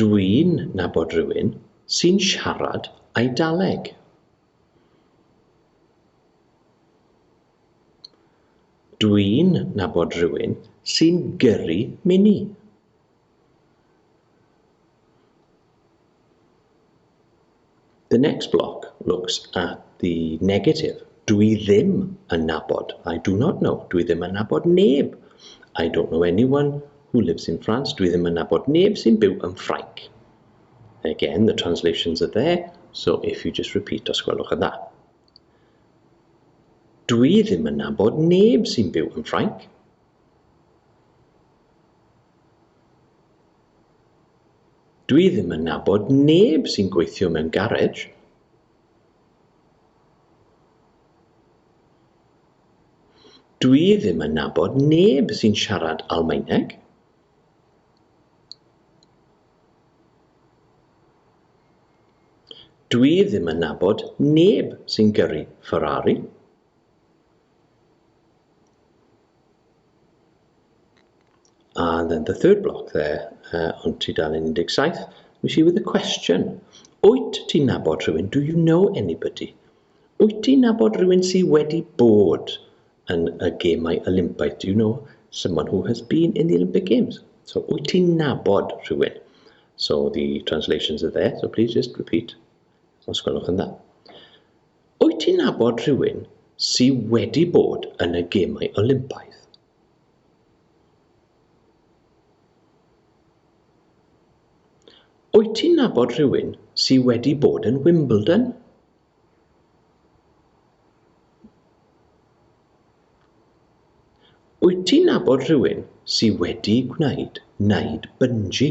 Dwi'n nabod rywun sy'n siarad Eidaleg. Dwi'n nabod rywun sy'n gyrru mini. The next block looks at the negative. Dw i ddim yn nabod. I do not know. Dw i ddim yn nabod neb. I don't know anyone who lives in France. Dw i ddim yn nabod neb sy'n byw yn Ffrainc. Again, the translations are there, so if you just repeat, os gwelwch yn dda. Dw i ddim yn nabod neb sy'n byw yn Ffrainc. Dwi ddim yn nabod neb sy'n gweithio mewn garej. Dwi ddim yn nabod neb sy'n siarad Almaeneg. Dwi ddim yn nabod neb sy'n gyrru Ferrari. And then the third block there, uh, on tudalen 17, we see with a question. Wyt ti'n nabod rhywun? Do you know anybody? Wyt ti'n nabod rhywun sydd wedi bod yn y gemau Olympaidd? Do you know someone who has been in the Olympic Games? So, wyt ti'n nabod rhywun? So the translations are there, so please just repeat. Os gwelwch yn dda. Wyt ti'n nabod rhywun sy wedi bod yn y Gemau Olympaidd? Wyt ti'n nabod rhywun sy wedi bod yn Wimbledon? Wyt ti'n nabod rhywun sy wedi gwneud wneud bungee?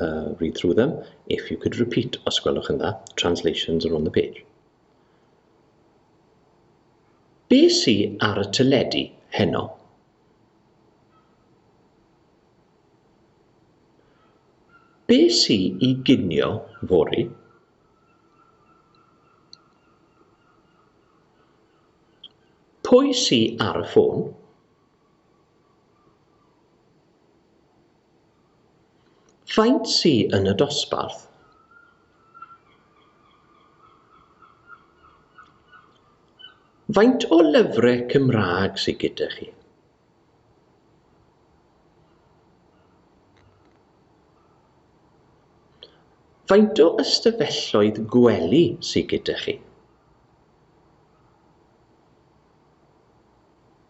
uh, read through them. If you could repeat, os gwelwch yn dda, translations are on the page. Be sy ar y teledu heno? Be sy i ginio fori? Pwy sy ar y ffôn? Faint sy yn y dosbarth? Faint o lyfrau Cymraeg sy gyda chi? Faint o ystafelloedd gwely sy gyda chi?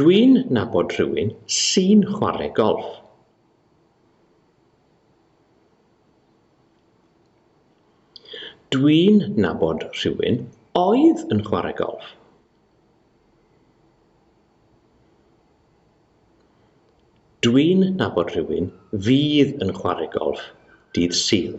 Dwi'n nabod rhywun sy'n chwarae golff. Dwi'n nabod rhywun oedd yn chwarae golff. Dwi'n nabod rhywun fydd yn chwarae golff dydd Sul.